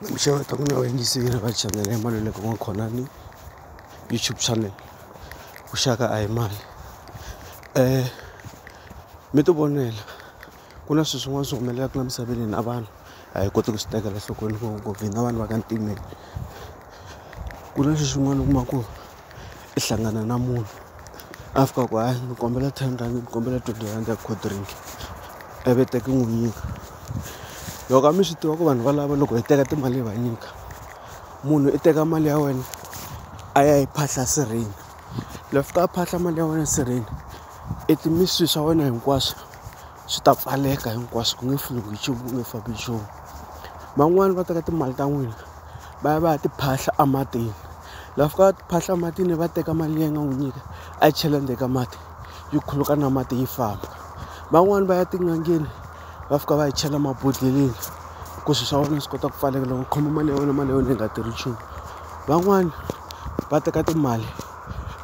Tinxaka ta mina va yingiseli va chanele ya Maluleka wa Mkhonani YouTube channel vuxaka a hi mali mi ti vonela ku na swilo swin'wana swi humelelaka la misaveni hina vanhu a hi koti ku swi tekela enhlokweni ngopfu hina vanhu va ka ntimeni ku na leswi swin'wana u kuma ku. i hlangana na munhu a fika a ku hayi ni kombela ten rand ni kombela twenty rand ya cold drink ivi i teka i n'wi nyika loko a mi swi tiva ku vanhu valava loko hi teka timali hi va nyika munhu i teka mali ya wena a ya yi phahla sirheni la fika a phahla mali ya wena sirheni i swilo swa wena hinkwaswo. swi ta pfaleka hinkwaswo ku nge pfuriwi nchumu ku nge fambi nchumu van'wani va teka timali ta n'wina va ya va ya ti phahla ematini la fika va ti phahla ematini va teka mali liya nga n'wi nyika a yi chela ndzeni ka mati yi khuluka na mati yi famba van'wani va ya tin'angeni va fika va yi chela mabodhleleni ku swi swa wena swi kota ku pfaleka loko u khoma mali ya wena mali ya wena yi nga tirhi nchumu van'wani va teka timali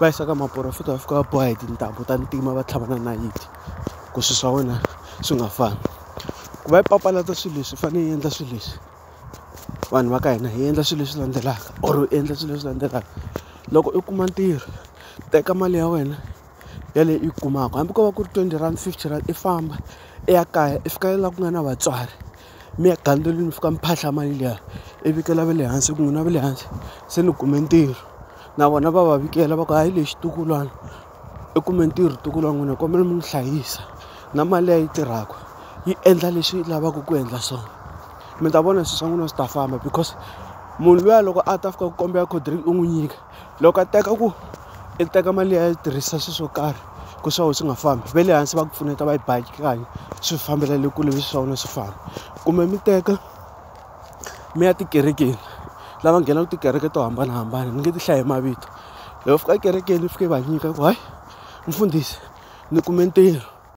va yisa ka maporofeta va fika va boha hi tintambu ta ntima va tlhava na nayiti. ku swilo swa wena swi nga fambi ku va yi papalata swilo leswi i fanele yi endla swilo leswi vanhu va ka hina hi endla swilo leswi landzelaka or u endla swilo leswi landzelaka loko i kuma ntirho teka mali ya wena ya leyi u yi kumaka hambi ko va ku ri twenty rhandi fifty rand i famba i ya kaya i fika laha ku nga na vatswari mi ya gandzela mi fika mi phahla mali liya i vikela va le hansi ku n'wina va le hansi se ni kume ntirho na vona va va vikela va ku hayi lexi i xitukulwana. I kume ntirho ntukulu wa n'wina ni kombela mi n'wi hlayisa na mali leyi a yi tirhaka yi endla leswi yi lavaka ku endla swona mi ta vona swilo swa n'wina swi ta famba because munhu luya loko a ta fika ku kombela cold drink u n'wi nyika loko a teka ku i teka mali liya a yi tirhisa swilo swo karhi ku swa wena swi nga fambi va le hansi va ku pfuneta va yi bakanyana swi fambela le kule leswi swa wena swi famba kumbe mi teka. mi ya tikerekeni lava nghenaka tikereke to hambanahambana ni nge ti hlayi hi mavito loko va fika ekerekeni va fika va nyika ku hayi mfundhisi ni kume ntirho.